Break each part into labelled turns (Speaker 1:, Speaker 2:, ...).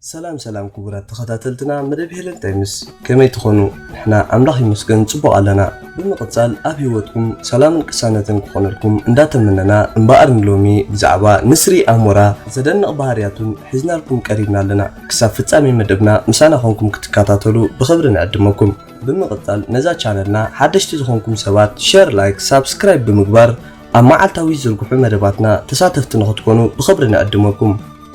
Speaker 1: ሰላም ሰላም ክቡራት ተኸታተልትና መደብ ሄለን ታይምስ ከመይ ትኾኑ? ንሕና ኣምላኽ ይመስገን ጽቡቕ ኣለና። ብምቕጻል ኣብ ህይወትኩም ሰላምን ቅሳነትን ክኾነልኩም እንዳተመነና እምበኣር ንሎሚ ብዛዕባ ንስሪ ኣሞራ ዘደንቕ ባህርያቱን ሒዝናልኩም ቀሪብና ኣለና። ክሳብ ፍጻሜ መደብና ምሳና ኮንኩም ክትከታተሉ ብኽብሪ ንዕድመኩም። ብምቕጻል ነዛ ቻነልና ሓደሽቲ ዝኾንኩም ሰባት ሸር ላይክ ሳብስክራይብ ብምግባር ኣብ መዓልታዊ ዝዝርግሑ መደባትና ተሳተፍቲ ንኽትኮኑ ብኽብሪ ንዕድመኩም።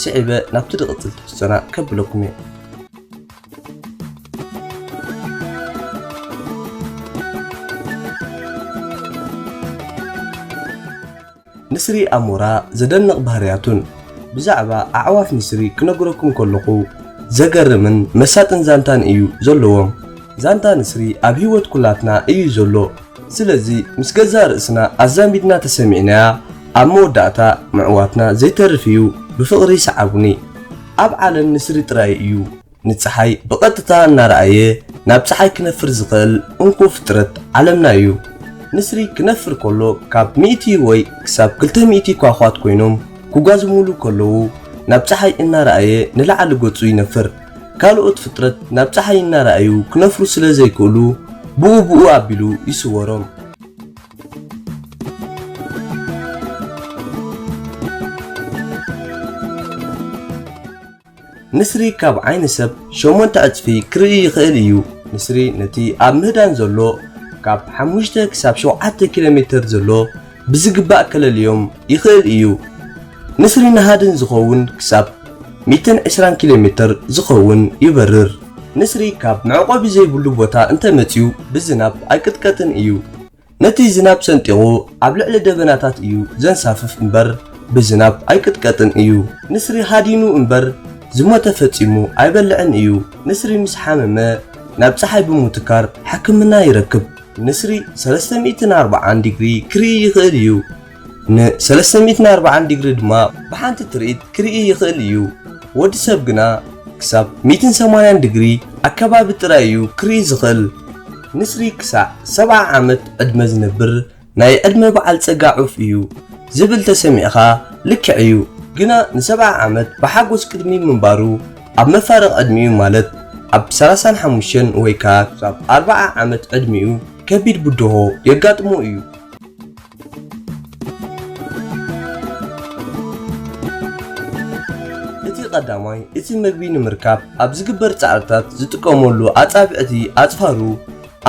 Speaker 1: ስዒበ ናብቲ ድቕጽል ትሕዝቶና ከብለኩም እየ። ንስሪ ኣሞራ ዘደንቕ ባህርያቱን። ብዛዕባ ኣዕዋፍ ንስሪ ክነግረኩም ከለኹ ዘገርምን መሳጥን ዛንታን እዩ ዘለዎም። ዛንታ ንስሪ ኣብ ህይወት ኩላትና እዩ ዘሎ። ስለዚ ምስ ገዛእ ርእስና ኣዛሚድና ተሰሚዕናያ ኣብ መወዳእታ ምዕዋትና ዘይተርፍ እዩ። ብፍቕሪ ሰዓቡኒ። ኣብ ዓለም ንስሪ ጥራይ እዩ። ንጸሓይ ብቐጥታ እናረኣየ ናብ ጸሓይ ክነፍር ዝኽእል እንኮ ፍጥረት ዓለምና እዩ። ንስሪ ክነፍር ከሎ ካብ ሚእቲ ወይ ክሳብ ክልተ ሚእቲ ኳዃት ኮይኖም ክጓዝሙሉ ከለዉ ናብ ጸሓይ እናረኣየ ንላዕሊ ገጹ ይነፍር። ካልኦት ፍጥረት ናብ ጸሓይ እናረኣዩ ክነፍሩ ስለ ዘይክእሉ ብኡ ብኡ ኣቢሉ ይስወሮም። ንስሪ ካብ ዓይኒ ሰብ ሸሞንተ ዕጽፊ ክርኢ ይኽእል እዩ። ንስሪ ነቲ ኣብ ምህዳን ዘሎ ካብ ሓሙሽተ ክሳብ ሸውዓተ ኪሎ ሜተር ዘሎ ብዝግባእ ከለልዮም ይኽእል እዩ። ንስሪ ንሃድን ዝኸውን ክሳብ ሚእትን ዕስራን ኪሎ ሜተር ዝኸውን ይበርር። ንስሪ ካብ መዕቆቢ ዘይብሉ ቦታ እንተመጺኡ ብዝናብ ኣይቅጥቀጥን እዩ። ነቲ ዝናብ ሰንጢቑ ኣብ ልዕሊ ደበናታት እዩ ዘንሳፍፍ እምበር ብዝናብ ኣይቅጥቀጥን እዩ። ንስሪ ሃዲኑ እምበር ዝሞተ ፈጺሙ ኣይበልዕን እዩ። ንስሪ ምስ ሓመመ ናብ ጸሓይ ብምውትካር ሕክምና ይረክብ። ንስሪ ሰለስተ ሚእትን ኣርብዓን ዲግሪ ክርኢ ይኽእል እዩ። ን ሰለስተ ሚእትን ኣርባዓን ዲግሪ ድማ ብሓንቲ ትርኢት ክርኢ ይኽእል እዩ። ወዲ ሰብ ግና ክሳብ ሚእትን ሰማንያን ዲግሪ ኣከባቢ ጥራይ እዩ ክርኢ ዝኽእል። ንስሪ ክሳዕ ሰብዓ ዓመት ዕድመ ዝነብር ናይ ዕድመ በዓል ጸጋ ዑፍ እዩ ዝብል ተሰሚዕካ ልክዕ እዩ። ግና ንሰብዓ ዓመት ብሓጎስ ቅድሚ ምንባሩ ኣብ መፋርቕ ዕድሚኡ ማለት ኣብ ሰላሳን ሓሙሽተን ወይ ከኣ ክሳብ ኣርብዓ ዓመት ዕድሚኡ ከቢድ ብድሆ የጋጥሞ እዩ። እቲ ቀዳማይ እቲ ምግቢ ንምርካብ ኣብ ዝግበር ጻዕርታት ዝጥቀመሉ ኣጻብዕቲ ኣጽፋሩ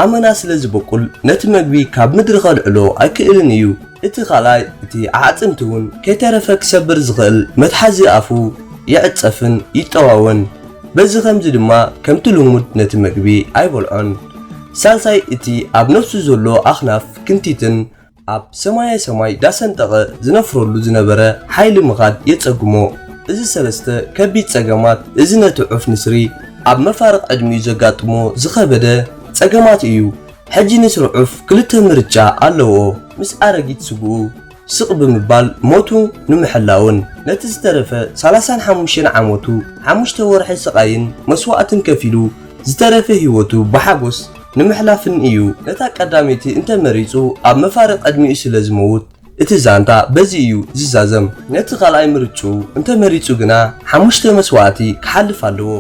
Speaker 1: ኣመና ስለ ዝበቁል ነቲ ምግቢ ካብ ምድሪ ከልዕሎ ኣይክእልን እዩ። እቲ ካልኣይ እቲ ኣዕጽምቲ እውን ከይተረፈ ክሰብር ዝኽእል መትሓዚ ኣፉ ይዕጸፍን ይጠዋወን በዚ ከምዚ ድማ ከምቲ ልሙድ ነቲ ምግቢ ኣይበልዖን። ሳልሳይ እቲ ኣብ ነፍሱ ዘሎ ኣኽናፍ ክንቲትን ኣብ ሰማየ ሰማይ ዳሰንጠቐ ዝነፍረሉ ዝነበረ ሓይሊ ምኻድ የጸግሞ። እዚ ሰለስተ ከቢድ ጸገማት እዚ ነቲ ዑፍ ንስሪ ኣብ መፋርቕ ዕድሚኡ ዘጋጥሞ ዝኸበደ ጸገማት እዩ። ሕጂ ንስሪ ዑፍ ክልተ ምርጫ ኣለዎ፣ ምስ ኣረጊት ስግኡ፣ ስቕ ብምባል ሞቱ ንምሕላውን ነቲ ዝተረፈ ሰላሳን ሓሙሽተን ዓመቱ ሓሙሽተ ወርሒ ስቓይን መስዋእትን ከፊሉ ዝተረፈ ህይወቱ ብሓጎስ ንምሕላፍን እዩ። ነታ ቀዳመይቲ እንተ መሪጹ ኣብ መፋርቕ ዕድሚኡ ስለ ዝመውት እቲ ዛንታ በዚ እዩ ዝዛዘም። ነቲ ካልኣይ ምርጭኡ እንተ መሪጹ ግና ሓሙሽተ መስዋእቲ ክሓልፍ ኣለዎ።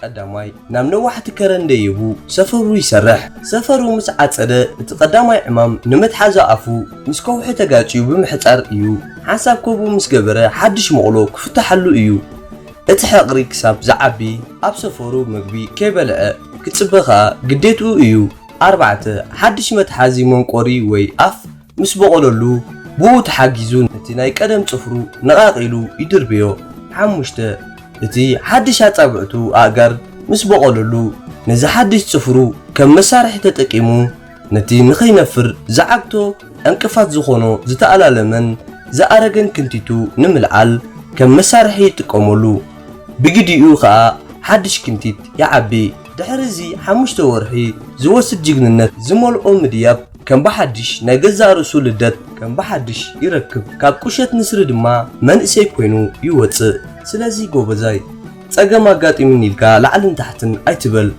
Speaker 1: ቀዳማይ ናብ ነዋሕቲ ከረን ደይቡ ሰፈሩ ይሰርሕ ሰፈሩ ምስ ዓፀደ እቲ ቀዳማይ ዕማም ንመትሓዚ ኣፉ ምስ ከውሒ ተጋጭዩ ብምሕፃር እዩ ሓንሳብ ከቡ ምስ ገበረ ሓድሽ መቕሎ ክፍታሓሉ እዩ እቲ ሕቕሪ ክሳብ ዝዓቢ ኣብ ሰፈሩ ምግቢ ከይበልዐ ክፅበ ከዓ ግዴትኡ እዩ ኣርባዕተ፣ ሓድሽ መትሓዚ መንቆሪ ወይ ኣፍ ምስ በቖለሉ፣ ብኡ ተሓጊዙ ነቲ ናይ ቀደም ጽፍሩ ነቓቒሉ ይድርብዮ። ሓሙሽተ፣ እቲ ሓድሽ ኣጻብዕቱ፣ ኣእጋር፣ ምስ በቖለሉ፣ ነዚ ሓድሽ ጽፍሩ ከም መሳርሒ ተጠቂሙ ነቲ ንኸይነፍር ዝዓግቶ ዕንቅፋት ዝኾኖ ዝተኣላለመን ዝኣረገን ክንቲቱ ንምልዓል ከም መሳርሒ ይጥቀመሉ። ብግዲኡ ከኣ ሓድሽ ክንቲት ይዓቢ። ድሕሪ እዚ ሓሙሽተ ወርሒ ዝወስድ ጅግንነት ዝመልኦ ምድያብ ከም ብሓድሽ ናይ ገዛእ ርእሱ ልደት ከም ብሓድሽ ይረክብ ካብ ቁሸት ንስሪ ድማ መንእሰይ ኮይኑ ይወጽእ ስለዚ ጎበዛይ ጸገም ኣጋጢሙኒ ኢልካ ላዕልን ታሕትን ኣይትበል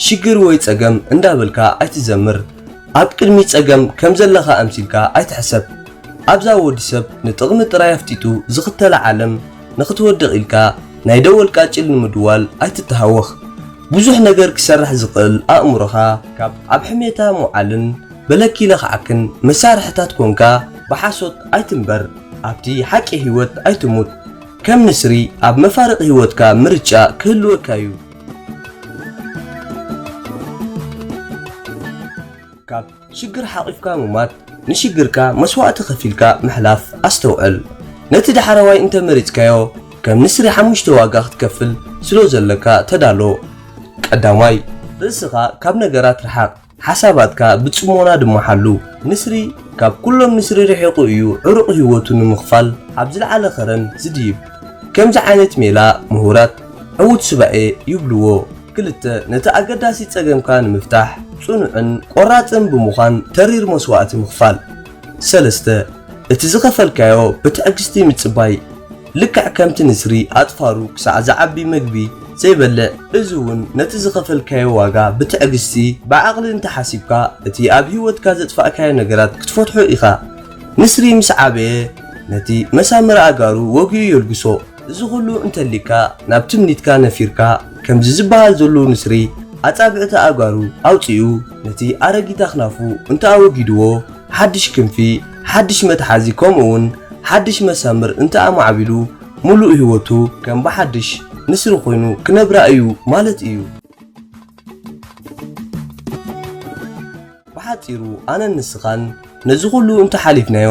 Speaker 1: ሽግር ወይ ጸገም እንዳበልካ ኣይትዘምር ኣብ ቅድሚት ጸገም ከም ዘለካ ኣምሲልካ ኣይትሕሰብ ኣብዛ ወዲ ሰብ ንጥቅሚ ጥራይ ኣፍጢጡ ዝክተላ ዓለም ንክትወድቅ ኢልካ ናይ ደወል ቃጭል ንምድዋል ኣይትተሃወኽ ብዙሕ ነገር ክሰርሕ ዝኽእል ኣእምሮኻ ካብ ኣብ ሕሜታ ምውዓልን በለኪ ለኽዓክን መሳርሕታት ኮንካ ብሓሶት ኣይትንበር ኣብቲ ሓቂ ሂወት ኣይትሙት ከም ንስሪ ኣብ መፋርቅ ሂወትካ ምርጫ ክህልወካ ዩ። ካብ ሽግር ሓቒፍካ ምሟት ንሽግርካ መስዋእቲ ከፊልካ ምሕላፍ ኣስተውዕል ነቲ ዳሕረዋይ እንተ መሪጽካዮ ከም ንስሪ ሓሙሽተ ዋጋ ክትከፍል ስሎ ዘለካ ተዳሎ ቀዳማይ ርእስኻ ካብ ነገራት ርሓቕ ሓሳባትካ ብጽሞና ድማ ሓሉ ንስሪ ካብ ኩሎም ንስሪ ርሒቑ እዩ ዕሩቕ ሂወቱ ንምኽፋል ኣብ ዝልዓለ ኸረን ዝድይብ ከምዚ ዓይነት ሜላ ምሁራት ዕዉት ሱባኤ ይብልዎ። ክልተ፣ ነቲ ኣገዳሲ ጸገምካ ንምፍታሕ ጽኑዕን ቆራጽን ብምዃን ተሪር መስዋእቲ ምኽፋል። ሰለስተ፣ እቲ ዝኸፈልካዮ ብትዕግስቲ ምጽባይ፣ ልክዕ ከምቲ ንስሪ ኣጽፋሩ ክሳዕ ዝዓቢ መግቢ ዘይበልዕ፣ እዚ እውን ነቲ ዝኸፈልካዮ ዋጋ ብትዕግስቲ፣ ብዓቕሊ እንተ ሓሲብካ እቲ ኣብ ህይወትካ ዘጥፋእካዮ ነገራት ክትፈትሖ ኢኻ። ንስሪ ምስ ዓበየ ነቲ መሳምር ኣእጋሩ ወጊኡ የልግሶ። እዚ ኩሉ እንተሊካ ናብ ትምኒትካ ነፊርካ ከምዚ ዝበሃል ዘሎ ንስሪ ኣጻብዕቲ ኣእጋሩ ኣውጺኡ ነቲ ኣረጊት ኣኽናፉ እንተኣወጊድዎ ሓድሽ ክንፊ ሓድሽ መትሓዚ ከምኡውን ሓድሽ መሳምር እንተኣማዕቢሉ ምሉእ ህይወቱ ከም ብሓድሽ ንስሪ ኮይኑ ክነብራ እዩ ማለት እዩ። ብሓጺሩ ኣነን ንስኻን ነዚ ኩሉ እንተ ሓሊፍናዮ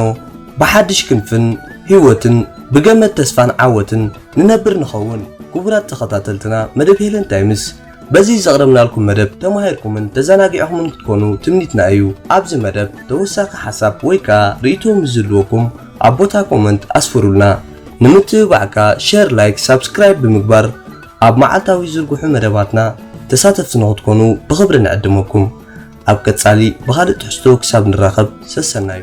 Speaker 1: ብሓድሽ ክንፍን ሂወትን ብገመድ ተስፋን ዓወትን ንነብር ንኸውን። ክቡራት ተኸታተልትና መደብ ሄለን ታይምስ በዚ ዘቕረብናልኩም መደብ ተማሂርኩምን ተዘናጊዕኹምን ክትኮኑ ትምኒትና እዩ። ኣብዚ መደብ ተወሳኺ ሓሳብ ወይ ከኣ ርእይቶ ምስ ዝህልወኩም ኣብ ቦታ ኮመንት ኣስፍሩልና። ንምትብባዕ ከኣ ሸር ላይክ ሳብስክራይብ ብምግባር ኣብ መዓልታዊ ዝዝርግሑ መደባትና ተሳተፍቲ ንኽትኮኑ ብኽብሪ ንዕድመኩም። ኣብ ቀጻሊ ብኻልእ ትሕዝቶ ክሳብ ንራኸብ ሰሰናዩ።